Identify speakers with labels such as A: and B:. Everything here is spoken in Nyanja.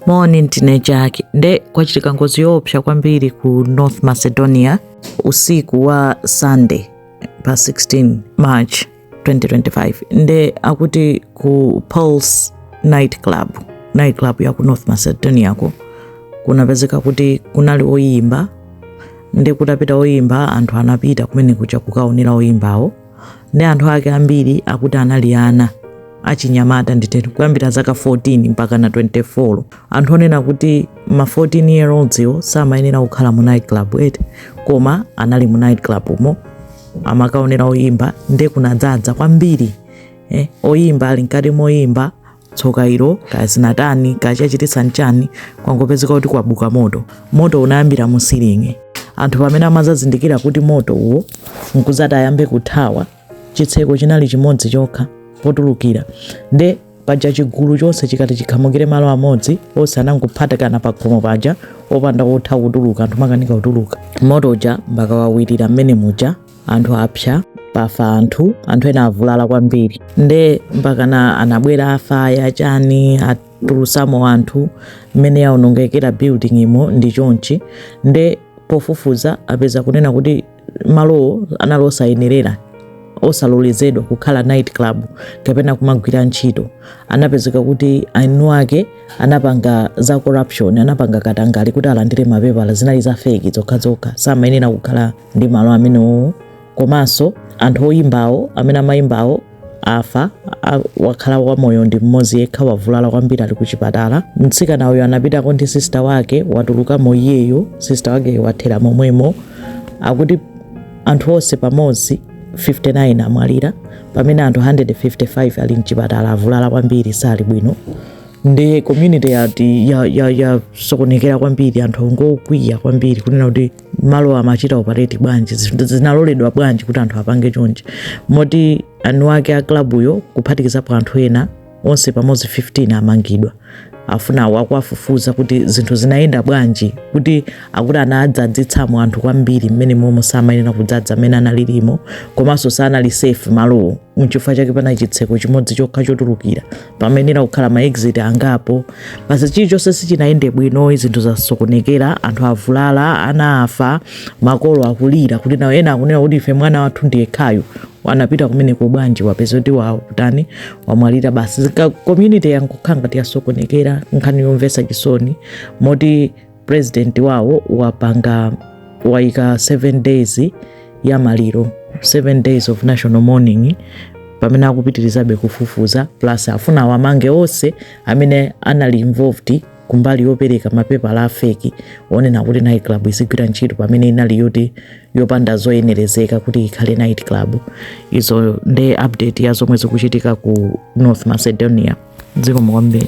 A: moni ndine Jack. Nde kwachitika ngozi yoopsa kwambiri ku North Macedonia usiku wa Sunday pa 16 March 2025 nde akuti ku Pulse night club night club ya ku North Macedonia ko kunapezeka kuti kunali oyimba nde kutapita oyimba anthu anapita kumene kuja kukaonera oyimbawo nde anthu ake ambiri akuti anali ana achinyamata nditero kuyambira zaka 14 mpaka na 24 anthu onena kuti ma 14 year olds iwo samayenera kukhala mu night club eti koma anali mu night club umo amakaonera oyimba nde kunadzadza kwambiri eh, oyimba ali mkati moyimba tsoka ilo kaya zinatani kaya chachititsa nchani kwangopezeka kuti kwabuka moto moto unayambira mu silingi anthu pamene amazazindikira kuti moto uwo nkuzati ayambe kuthawa chitseko chinali chimodzi chokha potulukira nde paja chigulu chonse chikati chikhamukire malo amodzi onse anangophatikana pa khomo paja opanda otha kutuluka anthu amakanika kutuluka moto uja mpaka wawirira mmene muja anthu apsa pafa anthu anthu ena avulala kwambiri nde mpakana anabwera afaya chani atulutsamo anthu mmene yaonongekera building imo ndi chonchi nde pofufuza apeza kunena kuti malowo anali osayenerera osalolezedwa kukhala night club kapena kumagwira ntchito anapezeka kuti eni ake anapanga za corruption anapanga katangale kuti alandire mapepala zinali za feki zokhazokha samayenera kukhala ndi malo amenewo komanso anthu oyimbawo amene amayimbawo afa wakhala wamoyo ndi mmodzi yekha wavulala kwambiri ali kuchipatala mtsikana uyo anapitako ndi sista wake watulukamo iyeyo sista wakeyo wathera momwemo akuti anthu onse pamodzi 59 amwalira pamene anthu 155 ali mchipatala avulala kwambiri sali bwino nde community yati yasokonekera ya, ya kwambiri anthu ngokwiya kwambiri kunena kuti malowo amachita operate bwanji zinaloledwa bwanji kuti anthu apange chonchi moti eni ake a klabuyo kuphatikizapo anthu ena onse pamodzi 15 amangidwa afuna akuwafufuza kuti zinthu zinayenda bwanji kuti akuti anadzadzitsamo anthu kwambiri mmene momo samayenera kudzadza mmene analilimo komanso sanali safe malowo nchifukwa chake pana chitseko chimodzi chokha chotulukira pamayenera kukhala ma exit angapo basi chilichonse sichinayende bwino zinthu zasokonekera anthu avulala ana afa makolo akulira kuti nawo ena akunena kuti ife mwana wathu ndi yekhayu anapita kumeneko bwanji wapezeka kuti wakutani wamwalira basi Zika- community yangokhala ngati yasokonekera nkhani yomvetsa chisoni moti president wawo wapanga waika 7 days ya maliro 7 days of national mourning pamene akupitirizabe kufufuza plus afuna awamange onse amene anali involved kumbali yopereka mapepala a fake onena kuti night club izigwira ntchito pamene inali yoti yopanda zoyenerezeka kuti ikhale night club izo nde update ya zomwe zikuchitika ku north macedonia zikomo kwambiri